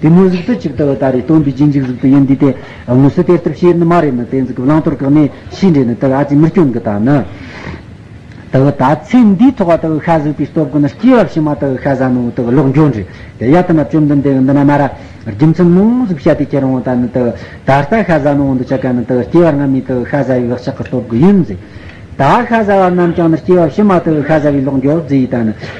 དེ་དངོས་གཟུགས་སུ་ཅིག་ལྟ་བུ་ལྟར་རེ་སྟོན་པའི་རྗེས་འཇུག་གཟུགས་དུ་ཡིན་དུས་དེ་དངོས་སུ་དེ་ལྟར་བྱེད་ནི་མ་རེད་ན་དེ་འཛིན་གྱི་བླང་དོར་བཀག་ནས་ཕྱིས་འདྲེན་ནི་དེ་ལ་ཨ་ཙི་མི་སྐྱོན་གྱི་དང་ནི། ལྟ་བུ་དག་ཚེ་འདིའི་ཐོག་བ་ལྟ་བུ་ཤ་ཟོས་པའི་སྟོབས་ཀྱིས་ནི་སྐྱེས་བབས་ཕྱི་མ་ལྟ་བུ་ཤ་ཟ་ནོ་ལྟ་བུ་ལོག་འགྱོ་འདྲེ་དེ་ཡ་ཐ་ན་བཅོམ་ལྡན་འདས་ཀྱི་འདི་ན་མ་ར་རྒྱུ་མཚན་སྣང་གཟུགས་ཤ་དེ་ཁྱེར་འོང་ལྟར་ནི་ལྟ་བུ་ད་ལྟ་ཤ་ཟ་ནོ་འདི་ཆ་ག་ནི་ལྟ་བུ་སྐྱེས་བར་སྔ་མའི་ལྟ་བུ་ཤ་ཟ་བའི་བག་ཆགས་ཀྱི་སྟོབས་ཀྱིས་ཡིན། ད་ཤ་ཟ་བ་རྣམས་ཀྱང་ནི་སྐྱེས་བབས་ཕྱི་མ་ལྟ་བུ་ཤ་ཟ་བའི་ལོག་འགྱོ་རྫས་ཡི་དང་ནི།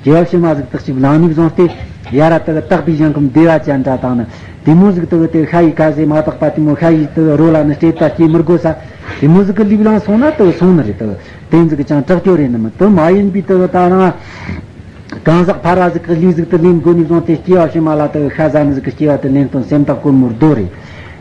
རྒྱལ་བྱེད་མ་གཟུགས་དག་ཅིག་ལང་ནུས་བཟང་སྟེ། ཡ་རབས་དག་དག་པའི་གཞན་གོམས་བདེ་བ་ཅན་འདྲ་དང་ནི། དེ་མོ་གཟུགས་དག་དེ་ཤ་ཡི་ཁ་ཟས་མ་དག་པ་དེ་མོ་ཤ་ཡི་དག་རོ་ལ་ནི་སྤྲེལ་དག་སྐྱེ་མི་དགོས་ས། དེ་མོ་གཟུགས་ལུས་ལང་སོང་ན་དག་སོང་ནི་རེད་དོ། དེ་གཟུགས་ཀྱང་དྲག་སྐྱོ་རེད་ནི་མི་དོ་མ་ཡིན་པའི་དག་ད་རང། གང་ཟག་ཕ་ར་གཟུགས་དག་ལུས་གཟུགས་དག་ལེན་དགོས་ནུས་བཟང་སྟེ་སྐྱེ་བ་བྱེད་མ་ལ་དག་ཤ་ཟ་ནི་གཟུགས་སྐྱེ་བ་དག་ལེན་དོན་སེམས་དག་དཀོན་མོར་བདོ་རེད།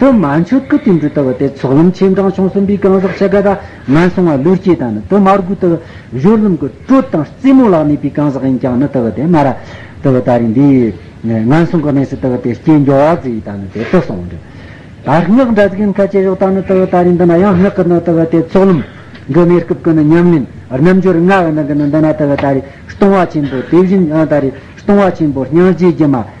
དུ་མ་མཆོད་བསྐུལ་བསྟན་འགྲོའི་ལྟ་བ་སྟེ་ཚོགས་ལམ་ཆེན་བགྲང་བྱུང་གསུམ་པའི་རྐང་བཞག་ཕྱེད་ཀ་དག་ངན་སོང་བ་ཀླུར་སྐྱེས་དང་ནི་དུ་མར་རྒུད་ལྟ་བ། གཞུར་ལམ་གྱི་དྲོད་དང་རྩེ་མོ་ལག་གནས་པའི་རྐང་བཞག་ཡིན་ཀྱང་ནི་ལྟ་བ་སྟེ་སྨྲ་ར། ལྟ་བ་ལྟ་རེ་འདི། ངན་སོང་གི་གནས་སུ་ལྟ་བ་སྟེ་སྐྱེས་འགྱོ་བ་ཙི་ཡིས་དང་ནི་དེ་ལྟ་སོགས་འབྲི། དར་སྔགས་འདྲ་གཟུགས་ཡན་ཁ་ཆེ་ཞོག་དང་ནི་ལྟ་བ་ལྟ་རེ་འདི་ན་ཡང་སྔགས་ཀྱི་ནི་ལྟ་བ་སྟེ་ཚོགས་ལམ། གི་གནས་སྐབས་ཀྱི་ནི་ཉམས་ལེན་རྣམ་འབྱོར་ལྔ་བ་ནི་གི་ནི་འདི་ན་ལྟ་བ་ལྟ་རེ་སྟོང་བ་ཆེན་པོ་དེ་བཞིན་ཡང་ལྟ་རེ་སྟོང་བ་ཆེན་པོ་སྙིང་རྗེའི་སྒྱུ་མ།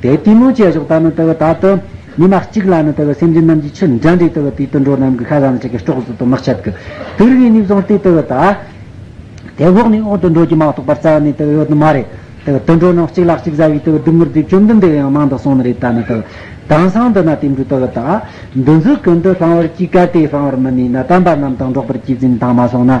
དེའི་གཏི་མུག་བཅས་སོགས་དག་ནི་ལྟེ་བའི་དག་ཏུ། མི་མ་གཅིག་ལ་ནི་ལྟེ་བའི་སེམས་ཅན་རྣམས་ཀྱི་ཆུ་འདྲ་འདྲའི་ལྟེ་བའི་དུས་དུད་འགྲོ་རྣམས་ཀྱི་ཁ་གང་ལ་ཆགས་ཀྱི་སྐྲོག་གཟུགས་དང་དམག་ཆབ་ཀྱི། དུར་བའི་སྙིགས་ཟངས་ཏེ་ལྟེ་བའི་དག། དེ་འོག་ནས་འོག་ཏུ་འགྲོ་རྒྱུ་མ་གཏོགས་པར་རྩ་བ་ནས་ལྟེ་བའི་ཡོད་དོ་མ་རེད། ལྟེ་བའི་དུད་འགྲོ་རྣམས་གཅིག་ལག་གཅིག་བཟའ་བའི་ལྟེ་བའི་དུད་འགྲོ་དེ་བཅོམ་ལྡན་འདས་ཡང་མང་དུ་གསུངས་ནི་རེད་ད་ནི་ལྟེ་བའི་དྭངས་སང་འདི་ན་དེ་འདྲའི་ལྟེ་བའི་དག། འདི་འཛུགས་ཀུན་དུ་སྤང་བར་གྱིས་གལ་ཏེ་སྤང་བར་མི་ནུས་ན་དམ་པ་རྣམས་དང་འགྲོགས་པར་གྱིས་འཛིན་དང་མ་སོང་ན།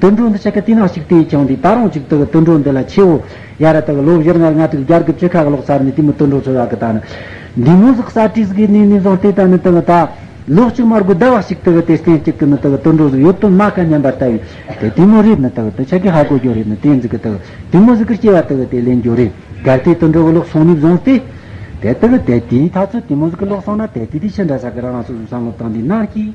དུད་འགྲོ་འདི་ཆེ་གེ་ཏི་ནག་ཅིག་ཏི་ཡིས་ཀྱང་འདི་ད་རུང་ཅིག་དུད་དུད་འགྲོ་འདི་ལ་ཆེའོ། ཡ་ར་དུད་ལོ་བཞིར་ངར་ང་དུད་རྒྱར་གུད་ཅི་ཁ་གི་ལོག་ཚར་ནི་ཏི་མི་དུད་འགྲོ་ཚོ་ཡ་གི་ད་ནི། འདི་མོ་ཟིག་གསར་ཏྲིས་གི་ནི་ནི་བཟང་ཏི་ད་ནི་དུད་ད། ལོ་གཅིག་མར་གུད་ད་བ་ཞིག་དུད་དེ་སྟེང་ཅིག་གི་ནི་དུད་དུད་འགྲོ་ཟིག་ཡོད་དུད་མ་ཁ་མཉམ་པར་ད་བའི་དེ་ཏི་མོ་རིག་ནི་དུད་དུད་ཆེ་གེ་ཧ་གོ་རྒྱོ་རིག་ནི་ཏེ་འཛི་གི་དུད་ཏི་མོ་ཟིག་གི་སྐྱེ་བ་དུད་དེ་ལེན་རྒྱོ་རིག་གར་ཏི་དུད་འགྲོ་གི་ལོག་སོང་ནི་བཟང་ཏི། དེ་དུད་དེ་ཏི་ཡིས་ད་ཚོད་ཏི་མོ་ཟིག་གི་ལོག་སོང་ན་དེ་ཏི་དི་ཆི་འདྲ་ས་གི་རང་སོ་སོའི་བསམ་བློ་དང་འདི་ནག་ཅིག།